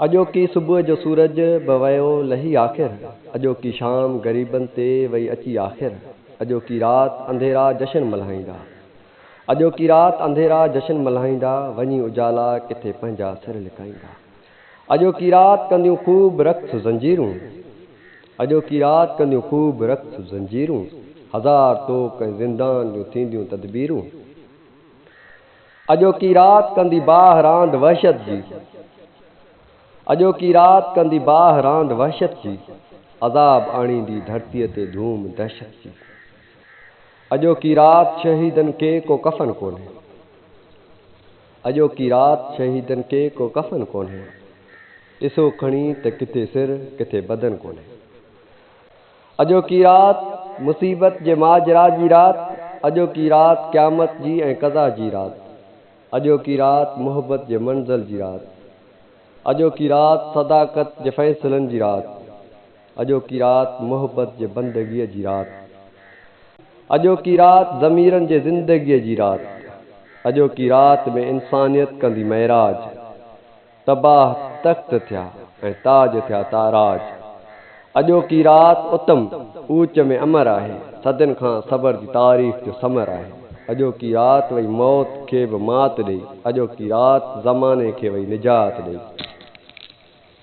اڄوڪي صبح جو سورج به ويو لهي آخر اڄوڪي شام غريبن تي وئي اچي آخر اڄوڪي رات انڌيرا جشن ملهائيندا اڄوڪي رات انڌيرا جشن ملهائيندا وڃي اجالا ڪٿي پنهنجا سر لڪائيندا اڄوڪي رات ڪنديون خوب رقص زنجيرون اڄوڪي رات ڪنديون خوب رقص زنجيرون هزار طوق ۽ زندان جون ٿينديون تدبيرون. اڄوڪي رات ڪندي باهه راند وحشت جي اڄوڪي رات ڪندي باهه راند وحشت جي عذاب آڻيندي ڌرتيء تي ڌوم دهشت جي اڄوڪي رات شهيدن ڪي ڪو ڪفن ڪونهي اڄوڪي رات شهيدن ڪي ڪو ڪفن ڪونهي ڏسو کڻي ته ڪٿي سر ڪٿي بدن ڪونهي. اڄوڪي رات، مصيبت جي ماجرا جي رات، اڄوڪي رات، قيامت جي ۽ قضا جي رات، اڄوڪي رات، محبت جي منزل جي رات، اڄوڪي رات، صداقت جي فيصلن جي رات، اڄوڪي رات، محبت جي بندگيء جي رات، اڄوڪي رات، ضميرن جي زندگيء جي رات، اڄوڪي رات ۾ انسانيت ڪندي معراج. تباھ تخت ٿيا ۽ تاج ٿيا تاراج. اڄوڪي رات اتم اوچ ۾ امر آهي، صدين کان صبر جي تعريف جو ثمر آهي. اڄوڪي رات وئي موت کي به مات ڏئي، اڄوڪي رات زماني کي وئي نجات ڏئي.